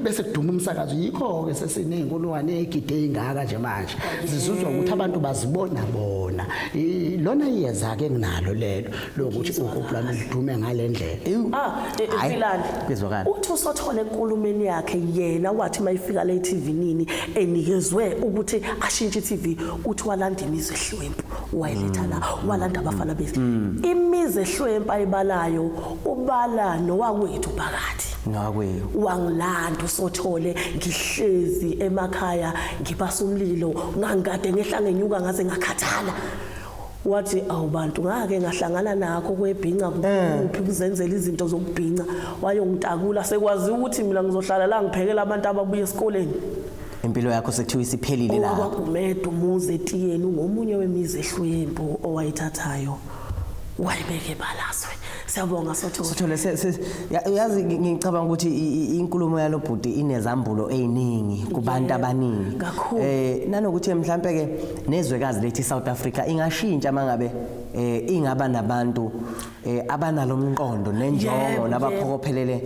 bese kuduma umsakazo yikho ke sesinezinkulwane egide ingaka nje manje zizuzwa ukuthi abantu bazibona bona lona iyeza ke nginalo lelo lokuthi ukubulana lidume ngalendlela ah e, e, ephilani bezwakala uthi usothole enkulumeni yakhe yena wathi mayifika le TV nini enikezwe ukuthi ashintshe TV uthi walanda imizi ehlwempu wayiletha la mm. walanda abafana bese mm. imizi ehlwempu ayibalayo ubala nowakwethu phakathi Mfundisi. Ngakwenu. Wangilanda usothole ngihlezi emakhaya ngibasa umlilo ngangikade ngehla ngenyuka ngaze ngakhathala. Wathi awubantu ngake ngahlangana nakho kwebhinca kuphi eh. kuzenzela izinto zokubhinca wayongitakula sekwazi ukuthi mina ngizohlala la ngiphekela abantu ababuya esikoleni. impilo yakho sekuthiwa isiphelile la wakwagumeda umuzi etiyeni ngomunye wemizi ehlwempu owayithathayo wayibeke balazwe siyabonga sotho sothole yazi ngicabanga ukuthi inkulumo yalobhuti inezambulo eziningi kubantu abaningi eh nanokuthi mhlambe ke nezwekazi lethi South Africa ingashintsha mangabe eh ingaba nabantu eh abanalomqondo nenjongo nabaphokophelele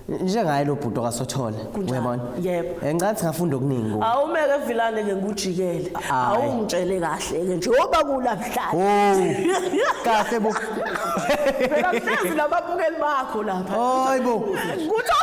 njengaye lo bhuti okasothole Kunjalo, uyabona yebo. Eh, ngicela ukuthi ngafunda okuningi kuwe awumeke vilane ke ngikujikele Ayi. awungitshele kahle ke njengoba kulabhlala Oh, kahle bo phela mhlezi nababukeli bakho lapha hayi bo kuthi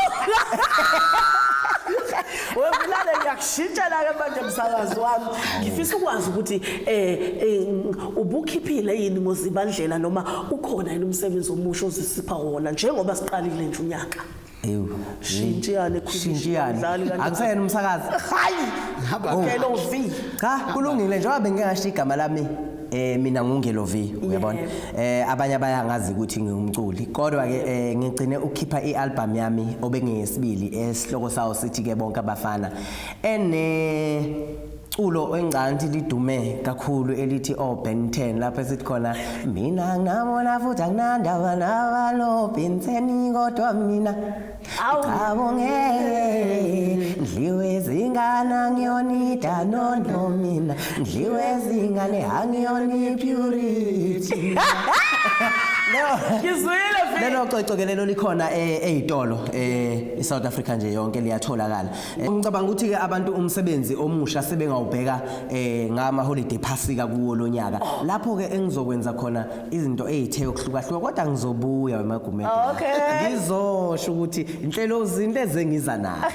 wevilane ngiyakushintshela ke manje msakazi wami ngifisa ukwazi ukuthi um Ubukhiphile yini ngoZibandlela noma ukhona yini umsebenzi omusha ozisipha wona njengoba siqalile nje unyaka? Ewu. Shintshiyane khulu. Shintshiyane. Akuseyena umsakazi. Hayi. Haba ke lo V. Cha, kulungile njengoba bengike ngashiya igama lami eh mina ngungelovi uyabona eh abanye abayangazi ukuthi ngingumculi kodwa ke eh, ngigcine ukukhipha ialbum yami obengiyesibili esihloko sawo sithi ke bonke abafana ene culo encanti lidume kakhulu elithi o oh, Ben 10 lapho esithi khona mina ngamona futhi anginandaba nabalo Ben 10 kodwa mina awu ngeke ndliwe zingana ngiyonida nondo mina ndliwe zingane angiyoni purity ngizwile lelo coco ke lelo likhona eh, eyitolo eh i South Africa nje yonke liyatholakala Eh, ngicabanga ukuthi-ke abantu umsebenzi omusha sebengawubheka um eh, ngamaholide phasika kuwo lo nyaka oh. lapho-ke engizokwenza khona izinto ey'the yokuhlukahluka kodwa ngizobuya wemagumede oh, ngizosho ukuthi inhlelo zinto ezengiza nazo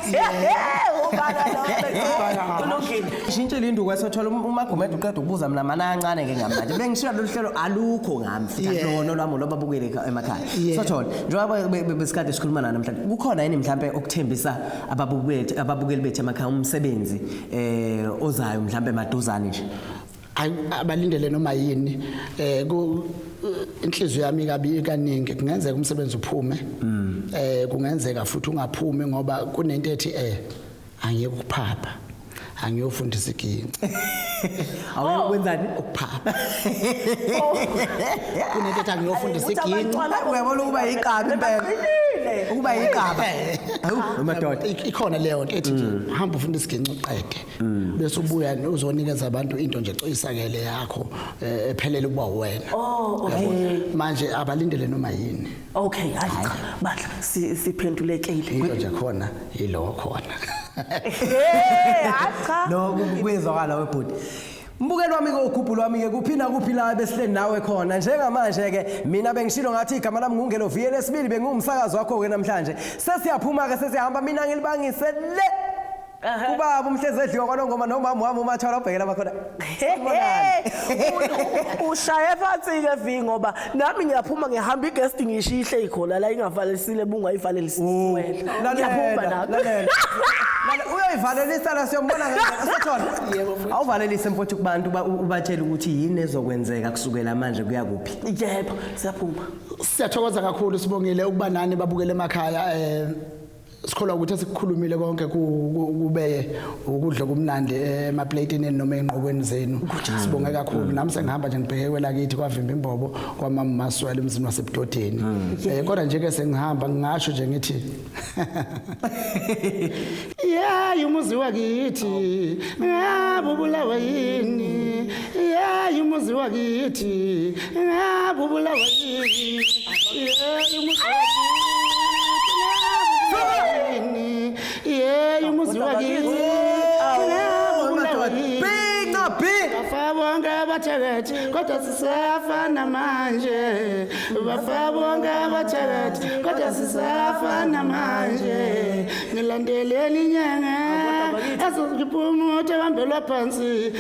shintshe lindu kwesothola um-, umagumede uqeda ukubuza mina mana kancane ke ngamanje bengishiya lolu hlelo alukho ngami futhi lono lwami loba bukele emakhaya sothola njengoba besikade sikhuluma nana namhlanje kukhona yini mhlawumbe okuthembisa ababukeli ababukeli bethu emakhaya umsebenzi eh ozayo mhlambe maduzane nje abalindele noma yini eh ku inhliziyo yami kabi kaningi kungenzeka umsebenzi uphume mm. eh kungenzeka futhi ungaphumi ngoba kunento ethi eh angiyekuphapha angiyofundisa iginci awuyokwenzani oh. ukuphapha oh. kunento ethi angiyofundisa iginci uyabona ukuba yiqaba impela ukuba yiqaba madoda ikhona leyo nto ethi mm. hamba ufunda isiginci uqede mm. bese ubuya uzonikeza abantu into nje coyisakele yakho eh, ephelele ukuba wena oh, manje abalindele noma yini Okay, hayi cha. Bandla si- siphendulekile. into nje khona yilowo khona Eh, hayi cha. no ku- kuyezwakala webhuti mbukeli wami-ke ugubhulu wami-ke kuphi nakuphi la ebesihleli nawe khona njengamanje-ke mina bengishilo ngathi igama lami ngungeloviye lesibili bengiwumsakazi wakho-ke namhlanje sesiyaphuma-ke sesiyahamba mina ngilibangise le kubaba umhlezi edliwa kwalongoma nomama wami umathwala obhekela bakhona ushaye phansi-ke vi ngoba nami ngiyaphuma ngihamba i-guest ngishiye ihleli khona la ingavalelisile bungayivalelisisiwela ngiyaphuma nami uyoyivalelisa la siyombona ngeasothona awuvalelise mfowethu kubantu ubatshele ukuthi yini ezokwenzeka kusukela manje kuya kuphi yebo siyaphuma siyathokoza kakhulu sibongile ukuba nani babukele emakhaya um sikholwa ukuthi esikukhulumile konke kube ukudla kumnandi emapleyitini noma enqokweni zenu sibonge kakhulu nami sengihamba nje ngibheke kwelakithi kwavimba imbobo kwamama maswela emzini wasebudodeni hmm. eh kodwa nje ke sengihamba ngingasho nje ngithi yeah umuzi wakithi ngabubulawa yini yeyi umuzi wakithi ngabe ubulawa yini yeyi umuzi wakithi yeyi umuzi wakithi bafabonke abathakathi kodwa sisafana manje bafabonke abathakathi kodwa sisafana manje ngilandeleni inyanga ezoziphuma uthi bambelwa phansi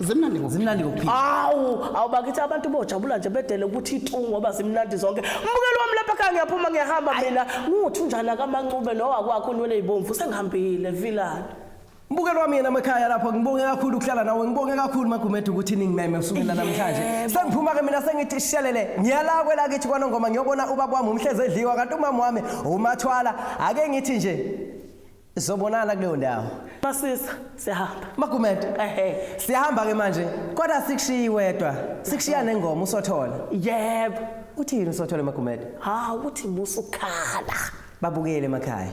zimnandi ngokuphila. zimnandi ngokuphila Awu, awubakithi abantu bojabula nje bedele ukuthi itu ngoba zimnandi zonke. Mbukeli wami lapha khaya ngiyaphuma ngiyahamba mina. Nguthi unjana kamancube lo wakwakho unwele izibomvu sengihambile vilani. mbukeli wami yena emakhaya lapho ngibonge kakhulu ukuhlala nawe ngibonge kakhulu magumede ukuthi ningimeme kusukela namhlanje Yebo. sengiphuma-ke mina sengithi shelele ngiyala kwelakithi kwanongoma ngiyobona ubaba wami umhlezi edliwa kanti umama wami umathwala ake ngithi nje Sobonana kuleyo ndawo. Masisa siyahamba. Magumede. Ehhe. Siyahamba ke manje. Kodwa sikushiyi wedwa. Sikushiya nengoma usothola. Yebo. Uthini usothola Magumede? Ha uthi musa ukhala. Babukele emakhaya.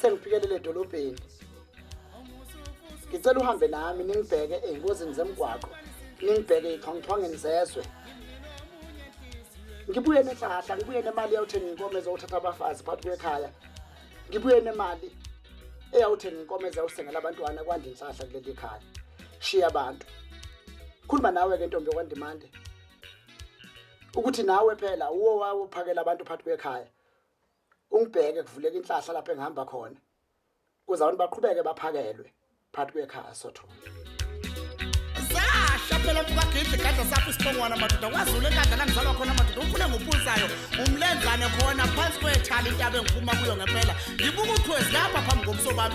sengifikelele edolobheni ngicela uhambe nami ningibheke ey'ngozini zemgwaqo ningibheke iy'thongithongeni zezwe ngibuye nenhlahla ngibuye nemali yawuthenga inkomo ezowuthatha abafazi phakathi kwekhaya ngibuye nemali eyawuthenga inkomo ezawusengela abantwana kwande inhlahla kuleli khaya shiya abantu khuluma nawe-ke ntombi yokwandimande ukuthi nawe phela uwo wawophakela abantu phakathi kwekhaya ungibheke kuvuleka inhlahla lapho engihamba khona kuze abantu baqhubeke baphakelwe phakathi kwekhaya sothondo zasha phela mkagidle gadla sakho isibongwana madoda kwazulu enkandla la ngizalwa khona madoda ukhule ngophunzayo umlenzane khona phansi kwethali intaba engiphuma kuyo ngempela ngibuka uthwezi lapha phambi komsobami